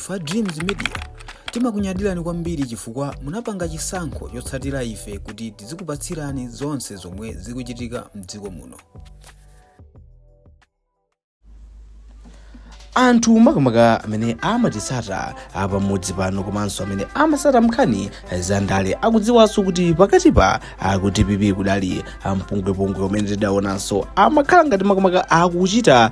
Ife a Dreams Media timakunyadirani kwambiri chifukwa munapanga chisankho chotsatira ife kuti tizikupatsirani zonse zomwe zikuchitika mdziko muno. anthu makamaka amene amatitsata pamodzi pano komanso amene amatsata nkhani za ndale akudziwanso kuti pakati pa ku DPP kudali mpungwepungwe umene tidaonanso amakhala ngati makamaka akuchita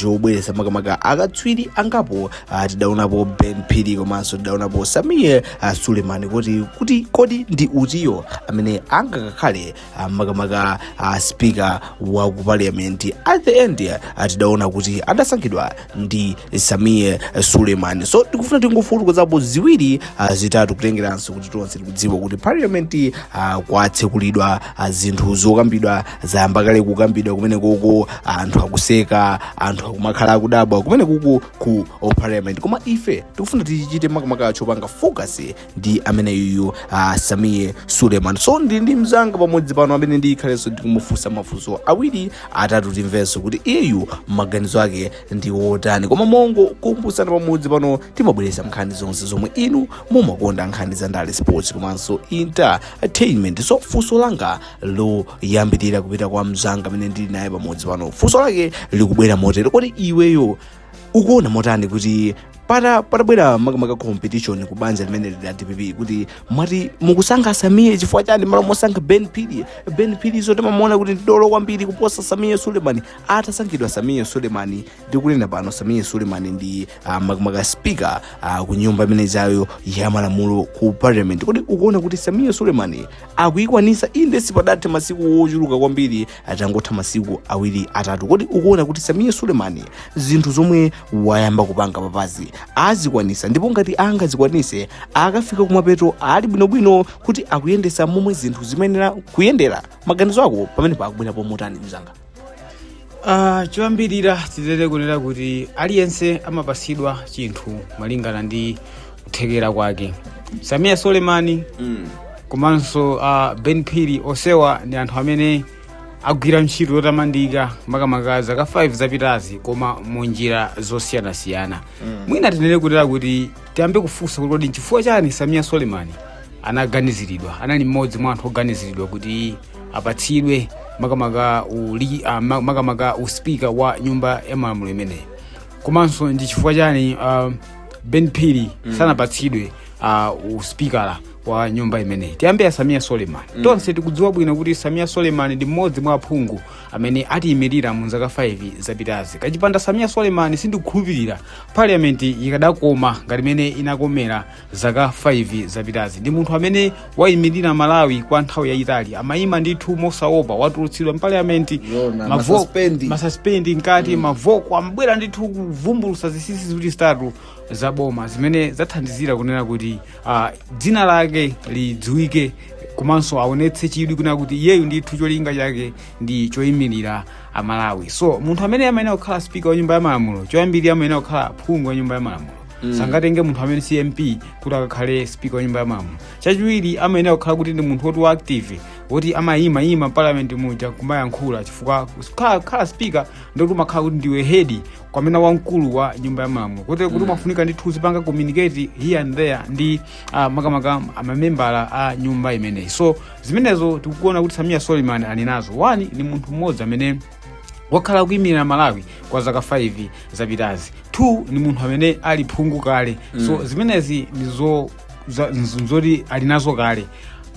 chobweresa makamaka akatswiri angapo ah, tidaonapo Ben Phiri komanso tidaonapo Sameer ah, Suleman kuti kuti kodi ndi utiyo amene angakakhale ah, makamaka a speaker wa ku parliament at the end eh, tidaona kuti adasankhidwa ndi Sameer Suleman so tikufuna tingofukulapo ziwiri ah, zitatu kutengeranso kuti tonse tikudziwa kuti parliament ah, kwatsekulidwa ah, zinthu zokambidwa zayamba kale kukambidwa kumeneko anthu akuseka anthu akumakhala akudabwa kumeneku ku oh, parliament koma ife tikufuna tichite makamaka chopanga focus ndi ameneyuyu uh, Sameer Suleman so ndili ndi mzanga pamodzi pano amene ndikhalenso ndikumufunsa mafunso awiri atatu timvenso kuti iyeyu maganizo ake ndi otani koma mongo kumbutsana pamodzi pano timabweretsa nkhani zonse zomwe inu mumakonda nkhani za ndale sports komanso entertainment so funso langa loyambirira kupita kwa mzanga amene ndili naye pamodzi pano funso lake likubwera motere kodi iweyo ukuona motani kuti pata patabwera makamaka competition ku banja limeneli la DPP kuti mwati mukusankha Sameer chifukwa chani malo mosankha Ben Phiri Ben Phiri zoti mumaona kuti ndi dolo kwambiri kuposa Sameer Suleman atasankhidwa Sameer Suleman ndikunena pano Sameer Suleman ndi uh, makamaka speaker uh, ku nyumba imene ijayo ya malamulo ku parliament kodi ukuona kuti Sameer Suleman akuyikwanitsa inde sipadathe masiku ochuluka kwambiri atangotha masiku awiri atatu kodi ukuona kuti Sameer Suleman zinthu zomwe wayamba kupanga apazi azikwanitsa ndipo ngati angazikwanitse akafika kumapeto ali bwinobwino kuti akuyendetsa momwe zinthu zimayenera kuyendera maganizo ako pamenepa akubwerapo motani mzanga Ah, choyambirira tinene kunena kuti aliyense amapatsidwa chinthu malingana ndi kuthekera kwake Sameer Suleman Mm. komanso uh, Ben Phiri onsewa ndi anthu amene agwira ntchito yotamandika makamaka zaka 5 zapitazi koma mu njira zosiyanasiyana mwina tinene kunena kuti tiyambe kufunsa kuti kodi nchifukwa chani Sameer Suleman anaganiziridwa anali mmodzi mwa anthu oganiziridwa kuti apatsidwe makamaka uli, uh, makamaka uspika wa nyumba ya malamulo imeneyi komanso ndi chifukwa chani uh, ben phiri sanapatsidwe uh, uspikala wa nyumba imeneyi tiyambe ya samiya soleman tonse tikudziwa bwino kuti samiya soleman ndi mmodzi mwa aphungu amene atiyimirira mu zaka 5 zapitazi kachipanda samiya soleman sindikukhulupirira parliament ikadakoma ngati imene inakomera zaka 5 zapitazi ndi munthu amene wayimirira amalawi kwa nthawi yayitali amayima ndithu mosaopa watulutsidwa mpaliamenti muna, masaspendi. masaspendi mkati mwavoko amabwera ndithu kuvumbulutsa zinsinsi ziwiri zitatu za boma zimene zathandizira kunena kuti ah, dzina lake lidziwike komanso aonetse chidwi kunena kuti iyeyu ndithu cholinga chake ndi choyimirira amalawi so munthu amene amayenera kukhala spika wa nyumba ya malamulo choyambirira amayenera kukhala phungu wa nyumba ya malamulo sangatenge munthu amene si mp kuti akakhale speaker wa nyumba ya malamulo chachiwiri amayenera kukhala kuti ndi munthu woti wa active woti amayima yima parliament muja kumayankhula chifukwa kukhala- kukhala speaker ndiye kuti umakhala kuti ndiwe hedi kapena wamkulu wa nyumba ya malamulo kotero kuti umafunika ndithu uzipanga communicate here and there ndi ah, makamaka amamembala a nyumba imeneyi so zimenezo tikuona kuti samia soliman ali nazo wani ni munthu mmodzi amene wakhala akuyimirira amalawi kwa zaka 5 zapitazi 2 ni munthu amene ali phungu kale so zimenezi ndizo za- nz- nzoti ali nazo kale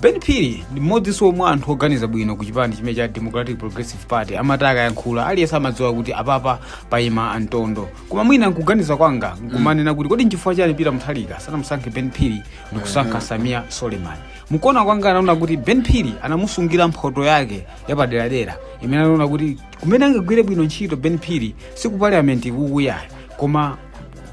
ben phiri ndi mmodzinso mwa anthu oganiza bwino ku chipani chimene cha democratic progressive party amati akayankhula aliyense amadziwa kuti apapa payima mtondo koma mwina nkuganiza kwanga nkumanena kuti kodi nchifukwa chani peter muthalika sanamusankhe ben phiri ndikusankha samia soleman mukuona kwanga anaona kuti ben phiri anamusungira mphoto yake yapaderadera imene anaona kuti kumene angagwire bwino ntchito ben phiri si ku parliament ikoko ayi koma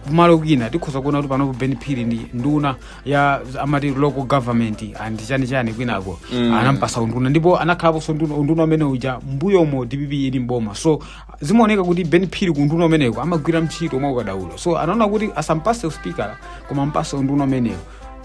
kumalo kwina tikhoza kuona kuti panopo ben phiri ndi nduna ya amati local government and chani chani kwinako mm. anampasa unduna ndipo anakhalaponso nduna unduna umene uja mbuyomu dpp ili mboma so zimaoneka kuti ben phiri ku unduna umeneko amagwira ntchito mwa ukadaulo so anaona kuti asampase uspikala koma ampase unduna umeneko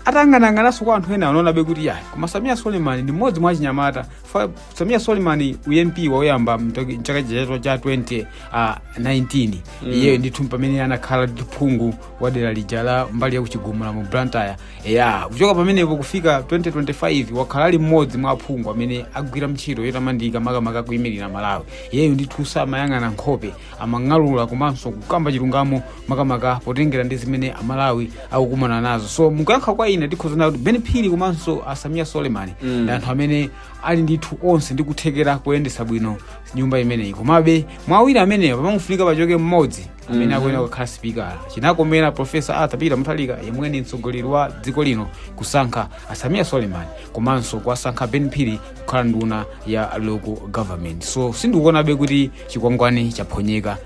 atayang'anayang'ananso kwa anthu ena anaonabe kuti yayi koma samia suleiman ndi mmodzi mwa achinyamata Fa- Samia Suleiman u MP wawo woyamba mtoki- mchaka chija cha 2019 iyeyo ndithu pamene anakhala ngati phungu wa dera lija la mbali ya kuchigumula mu Blantyre ya kuchoka pamenepo kufika 2025 wakhala ali mmodzi mwa aphungu amene agwira ntchito yotamandika makamaka kuyimirira Amalawi iyeyo ndithu samayang'ana nkhope amang'alula komanso kukamba chilungamo makamaka potengera ndi zimene amalawi akukumana nazo so mukuyankha kwa ine tikhoza kunena kuti ben phiri komanso asamiya soleman mm. ndi anthu amene ali ndithu onse ndi kuthekera kuyendetsa bwino nyumba imeneyi komabe mwa awiri amenewa pamafunika pachoke mmodzi amene akuyenera kukhala sipikala chinakomera profesa arthur peter muthalika yemwe ni mtsogoleri wa dziko lino kusankha asamiya soleman komanso kuwasankha ben phiri kukhala nduna ya local government so sindikuonabe kuti chikwangwani chaphonyeka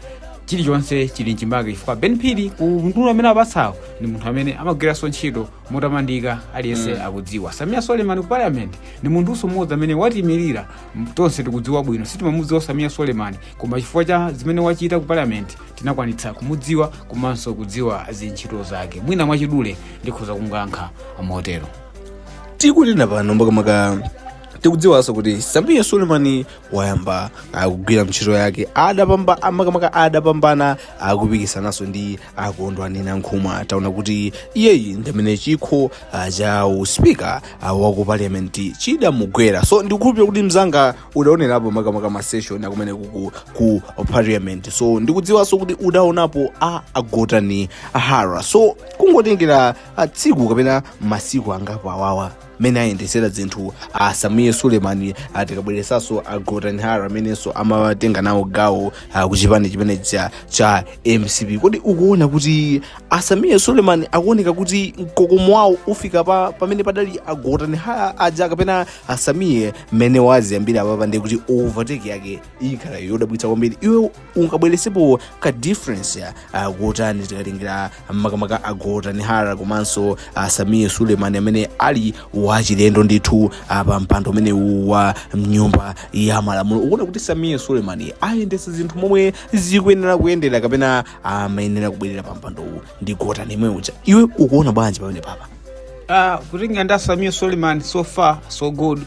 chilichonse chili mchimake chifukwa Ben Phiri ku unduna umene apatsawo ndi munthu amene amagwiranso ntchito motamandika aliyense mm. akudziwa Sameer Suleman ku parliament ndi munthunso mmodzi amene watimirira m- tonse tikudziwa bwino sitimamudziwa Sameer Suleman koma chifukwa cha zimene wachita ku parliament tinakwanitsa kumudziwa komanso kudziwa zintchito zake mwina mwachidule ndikhoza kuyankha motero tikunena pano makamaka tikudziwanso kuti Sameer Suleman wayamba akugwira ntchito yake adapamba amakamaka adapambana akupikisanaso ndi akondwani nankhumwa taona kuti iyeyu ndi amene chikho ah, cha uspika ah, wa ku parliament chidamugwera so ndikukhulupirira kuti mzanga udaonerapo makamaka maseshoni akumene kuku ku parliament so ndikudziwanso kuti udaonapo a Gotani Hara so kungotengera ah, tsiku kapena masiku angapo awawa mmene ayendetsera zinthu a Sameer Suleman tikabweresanso a Gotani Hara amenenso amatenga nawo gawo ah, ku chipani chimene cha, cha mcp kodi ukuona kuti a Sameer Suleman akuoneka kuti mkokomo wawo ufika pa pamene padali a Gotani Hara aja kapena a Sameer mmene waziyambira apapa ndi kuti overtake yake ikhala yodabwitsa kwambiri iwe ungabweresepo ka difference ah, kotani tikatengera makamaka a Gotani Hara komanso a Sameer Suleman amene ali wachilendo ndithu pa mpando umenewu wa mnyumba ya malamulo ukuona kuti Sameer Suleman ayendesa zinthu momwe zikuyenera kuyendera kapena amayenera kubwerera pa mpandowu ndi Gotani yemwe uja iwe ukuona bwanji pamenepapa Ah, kulinga ndi a Sameer Suleman so far so good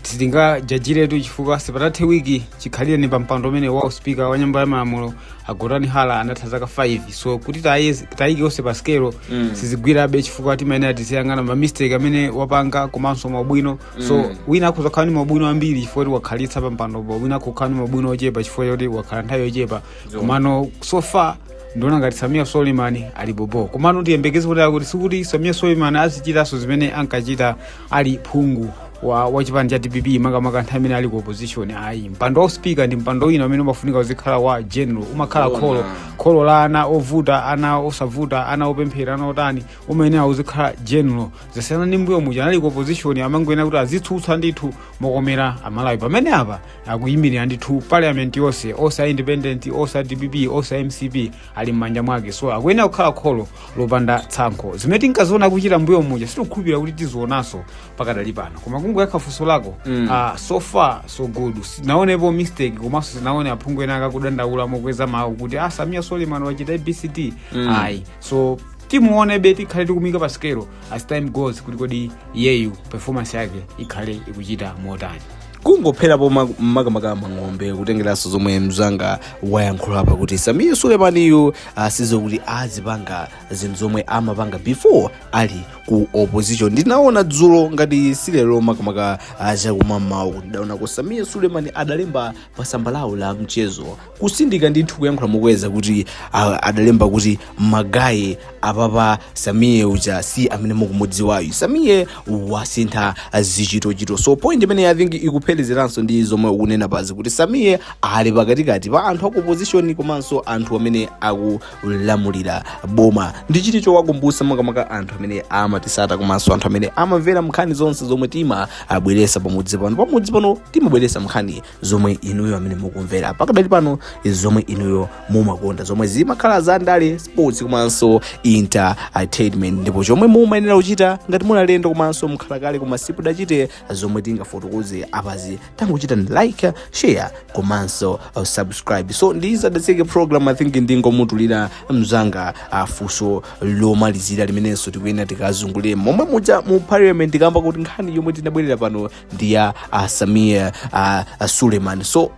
sitingajajiretu chifukwa sipatathe wiki chikhalireni pampando umene wa uspika wa nyumba ya malamulo a Gotani Hara anatha zaka 5 so kuti taye- tayike onse pa sikelo Mm. sizigwirabe chifukwa timayenera tiziyang'ana mamistake amene wapanga komanso maubwino so Mm. wina akhoza kukhala ni maubwino ambiri chifukwa kuti wakhalitsa pampandopo wina akhoza kukhala ni maubwino ochepa chifukwa choti wakhala nthawi yochepa Zoona. komano so far ndiona ngati Sameer Suleman ali bobo komano tiyembekeze kuti akuti sikuti Sameer Suleman azichitanso zimene ankachita ali phungu wa, wa chipani cha dpp makamaka nthawi imene ali ku opposition ayi mpando wa uspika ndi mpando wina umene umafunika uzikhala wa general umakhala Zoona. kholo kholo la ana ovuta ana osavuta ana opemphera ana otani umayenera uzikhala general zasiyana ndi mbuyo muja anali ku opposition amangoyenera kuti azitsutsa ndithu mokomera amalawi pamene apa akuyimirira ndithu parliament yonse onse a independent onse a dpp onse a mcp ali m'manja mwake so akuyenera kukhala kholo lopanda tsankho zimene tinkaziona kuchita mbuyo muja sitikukhulupirira kuti tizionaso pakadali pano koma kungoyankha funso lako mm. uh, so far so good sindinaonepo mistake komanso sindinaone aphungu ena akudandaula mokweza mawu kuti ah Sameer Suleman wachita abcd mm. ayi so timuonebe tikhale tikumuika pa sikelo as time goes kuti kodi iyeyu performance yake ikhale ikuchita motani kungophera pomwepo makamaka mang'ombe kutengeranso zomwe mzanga wayankhula apa kuti Sameer Sulemaniyu asasiye kuti azipanga zinthu zomwe amapanga before ali ku opposition ndinaona dzulo ngati si lero makamaka chakum'mawa kuti ndidaona kuti Sameer Suleman adalemba pa tsamba lawo la mchezo kutsindika ndithu kuyankhula mokweza kuti ah, adalemba kuti magaye apapa Sameer uja si amene mukumudziwayu Sameer wasintha zichitochito so point imene i think ikupherezeranso ndi zomwe ukunena apazi kuti Sameer ali pakatikati pa anthu akuopposition komanso anthu amene akulamulira boma ndiye chinthu chowakumbutsa makamaka anthu amene amatitsata komanso anthu amene amamvera nkhani zonse zomwe timabweretsa pamudzi pano pamudzi pano timabweretsa nkhani zomwe inuyo amene mukumvera pakadali pano izi zomwe inuyo mumakonda zomwe zimakhala za ndale sports komanso entertainment ndipo chomwe mumayenera kuchita ngati muli alendo komanso mwakhala kale koma simudachite zomwe tingafotokoze apazi tangochitani like share komanso uh, subscribe so tisadatseke program i think ndingomutulira mzanga uh, funso lomalizira limenenso tikuyenera tikazungulire momwe muja mu parliament kamba kuti nkhani yomwe tinabwerera pano ndi ya uh, Sameer uh, uh, suleiman so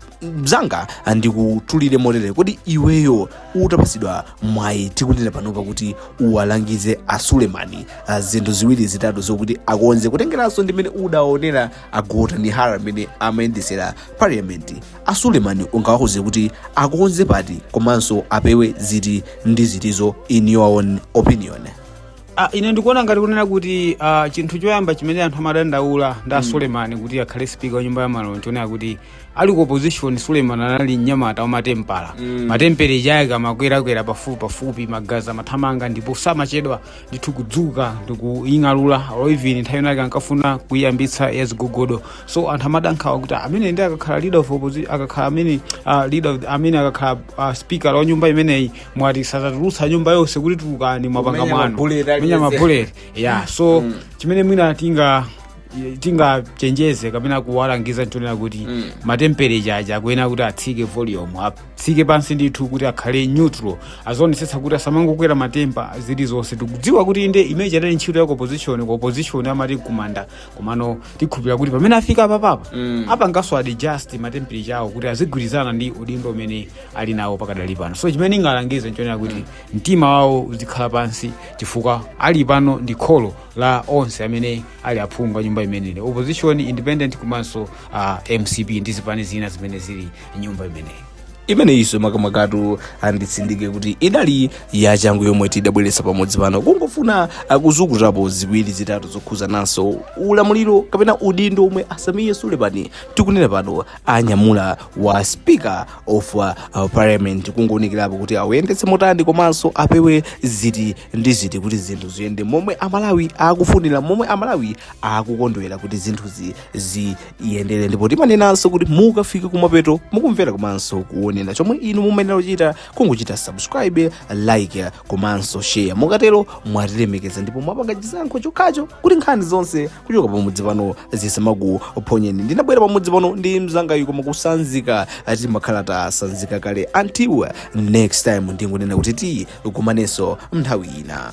mzanga uh, ndikutulire motere kodi iweyo utapatsidwa mwayi tikunena panopa kuti uwalangize a suleimani uh, zinthu ziwiri zitatu zokuti akonze kutengeranso ndimene udaonera a Gotani Hara amene amayendetsera parliament a suleimani ungawauze kuti akonze pati komanso apewe ziti ndi zitizo in your own opinion Ah, ine ndikuona ngati kunena kuti ah, chinthu choyamba chimene anthu amadandaula ndi a sulemani kuti akhale spika wa nyumba ya malamulo n'chonena kuti ali ku opposition sulemani anali mnyamata wa ma temper ma temper ake amakwerakwera pafupi pafupi magazi amathamanga ndipo samachedwa ndithu kudzuka ndi kuying'alula or even nthawi inake ankafuna kuyiyambitsa yazigogodo so anthu amadandaula kuti ameneyu akakhala leader of opposition akakhala amene ah, leader of- amene akakhala ah, speaker wa nyumba imeneyi mwati sadzatulutsa nyumba yonse kuti tulukani mwapanga Kumenya mwano mabuleti aliyense. menya mabuleti ya so chimene mwina tinga tingachenjeze kapena kuwalangiza n'chonena kuti Mm. ma temperature aja akuyenera kuti atsike volume atsike pansi ndithu kuti akhale neutral azionetsetsa kuti asamangokwera ma temper zilizonse tikudziwa kuti inde mu za ndale ntchito ya opposition ku opposition amati kumanda komano tikhulupira kuti pamene afika apapapa Mm. apanganso adjust matemperature awo kuti azigwirizana ndi udindo umene ali nawo pakadali pano so chimene ndingalangize nchonena kuti mtima wawo uzikhala pansi chifukwa panopa ndi kholo la onse amene ali aphungu a nyumba imeneyi opposition independent komanso uh, mcp ndi zipani zina zimene zili nyumba imeneyi imeneyinso makamakatu anditsindike kuti idali yachangu yomwe tidabweretsa pamudzi pano kungofuna kuzukutapo ziwiri zitatu zokhudzananso ulamuliro kapena udindo omwe a Sameer Suleman tikunena pano anyamula wa speaker of uh, parliament kungounikirapo kuti awuyendetse motani komanso apewe ziti ndi ziti kuti zinthu ziyende momwe amalawi akufunira momwe amalawi akukondwera kuti zinthu zi yendere ndipo timanenanso kuti mukafika kumapeto mukumvera komanso kuonera chomwe inu mumayenera kuchita nkuchita subscribe like komanso share mukatero mwatilemekeza ndipo mwapanga chisankho chokhacho kuti nkhani zonse kuchoka pamudzi pano zisamakuphonyeni ndinabwera pamudzi pano ndi mzangayu koma kusanzika timakhala tasanzika kale until next time ndingonena kuti tikumanenso mnthawi ina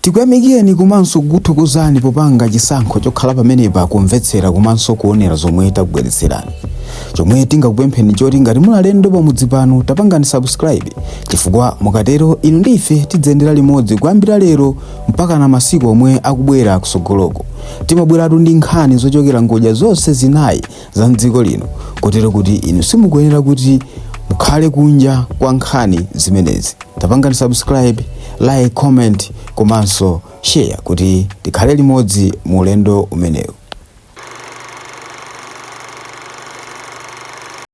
Tikuyamikileni komanso kukuthokozani popanga chisankho chokhala pamenepa kumvetsera komanso kuonera zomwe takubweretserani. Chomwe tingakupempheni nchoti ngati muli alendo pamudzi pano tapangani subscribe chifukwa mukatero inu ndi ife tidziyendera limodzi kuyambira lero mpakana masiku omwe akubwera kusogoloku. Timabweratu ndi nkhani zochokera ngodya zonse zinayi za mdziko lino kotero kuti inu simukuyenera kuti mukhale kunja kwa nkhani zimenezi tapangani subscribe like comment komanso share kuti tikhale limodzi mu ulendo umenewu